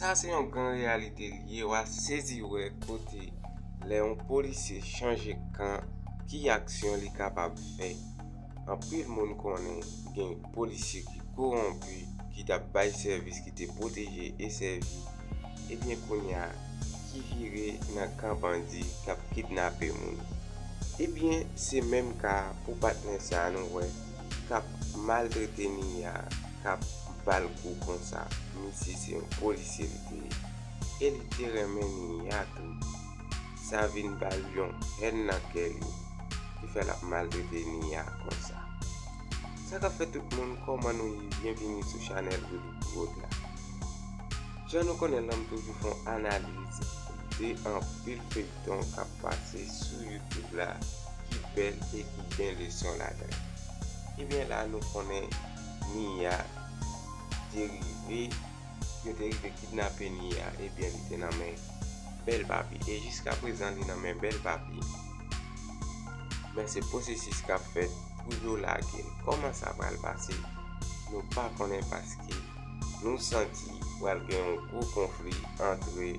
Sa se yon gran reyalite li ye, wa sezi wè kote lè yon polisye chanje kan ki aksyon li kapab fè. Anpil moun konnen gen polisye ki kowonpi, ki t ap bay sèvis, ki te pwoteje e sèvi, ebyen kounye a ki vire nan kan bandi k ap kidnape moun. Ebyen se menm ka pou patnè sa a nou wè. kap maltrete Mia kap bal kou konsa misye se yon polisye li te ye e li te renmen Mia tou sa vin bal yon hèn nan kè li ki fè lap maltrete Mia konsa sa kap fè tout moun kòman nou ye byen vini sou chanèl Willy Prod la jan nou konnen lan m toujou fon analiz de anpil feyton kap pase sou youtube la ki bèl e ki gen leson ladan ebyen la nou konnen Mia te rive yo te rive kidnape Mia ebyen li te nan men bèl papi e jiska prezan li nan men bèl papi men se pwosesis kap fèt pou yo lagel kòman sa pral pase nou pa konnen paske nou santi pral gen yon gwo konfli antre.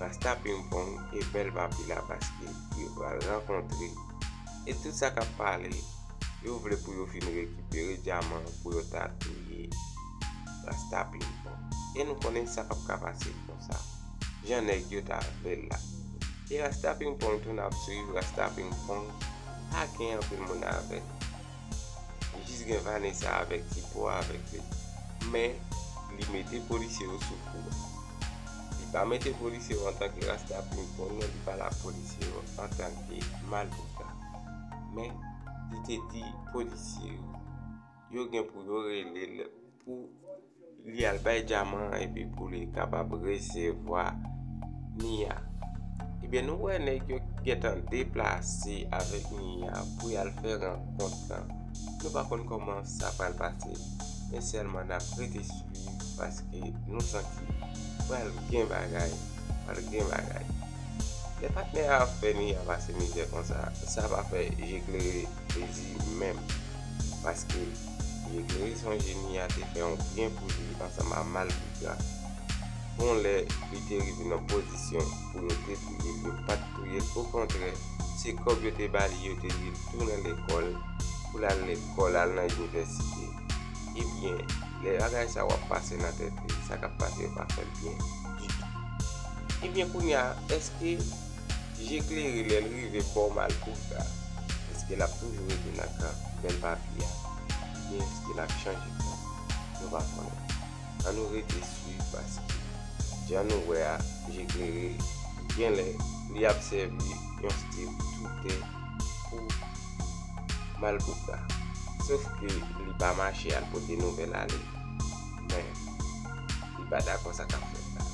Rasta ping pong e bèl papi la paske yo pral rankontre e tout sa kap pale yo vle pou yo fin rekipere dyaman pou yo ta touye rasta ping pong e nou konnen sa pap ka pase konsa jan nèg yo ta vlel la e rasta ping pong tou nap swiv rasta ping pong pa gen anpil moun avèl. Jis gen Vanessa avèk ti po a avèk li. Men, li mete polisye yo sou kou a. Li pa mete polisye yo antanke rasta pimpon non li pale ak polisye yo antanke malpouta. Men, li te di polisye yo, yo gen pou yo rele l pou. Li al bay dyaman an epi pou li kapab resevwa Nia. Ebyen nou wè nèg yo gentan deplase avèk Nia pou yal fè rankont lan. Nou pa konn kòman sa pral pase men sèlman nap rete swiv paske nou santi pral gen bagay, pral gen bagay. Lè patnè a ap fè Nia pase mizè konsa sa pa fè je klere plezi menm paske. e gerizon jeni a te fè yon byen pou li ansanm a Malpigra. Bon lè li te rive nan pozisyon pou yo te touye l, yo pa t touye l, okontrè se kòb yo te ba li yo te di l tounen lekòl pou l al lekòl, al nan inivèsite. Ebyen, lè bagay sa yo ap pase nan tèt li, sa k ap pase yo pa fè l byen ditou. Ebyen kounye a, èske. Je klere lè l rive bò Malgouga, èske l ap toujou rete nan kan bèl papi a oubyen èske l ap chanje kan? Nou pa konnen. An nou rete swiv paske jan nou wè a Je klere genlè li ap sèvi yon stil toutè pou Malgouga. Sof ke li pa mache al pote nouvèl ale men li pa dakò sa k ap fèt la.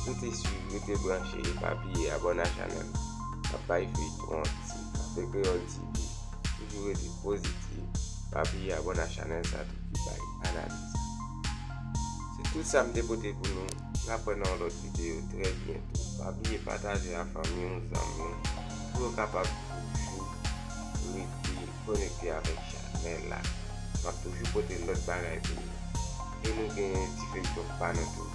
Rete swiv, rete branche e pa bliye abone a chanel la. Nap bay feyton an ti Cafe Creole TV. Toujou rete positive. Pa bliye abone a chanel sa tou ki bay analiz yo. Se tout sa m te pote pou nou. Nap wè nan yon lot video trè byento. Pa bliye pataje a fanmi w, zanmi w pou yo kapab toujou rete konekte avek chanel la. Map toujou pote lot bagay pou nou. E nou gen ti feyton pa nou tou.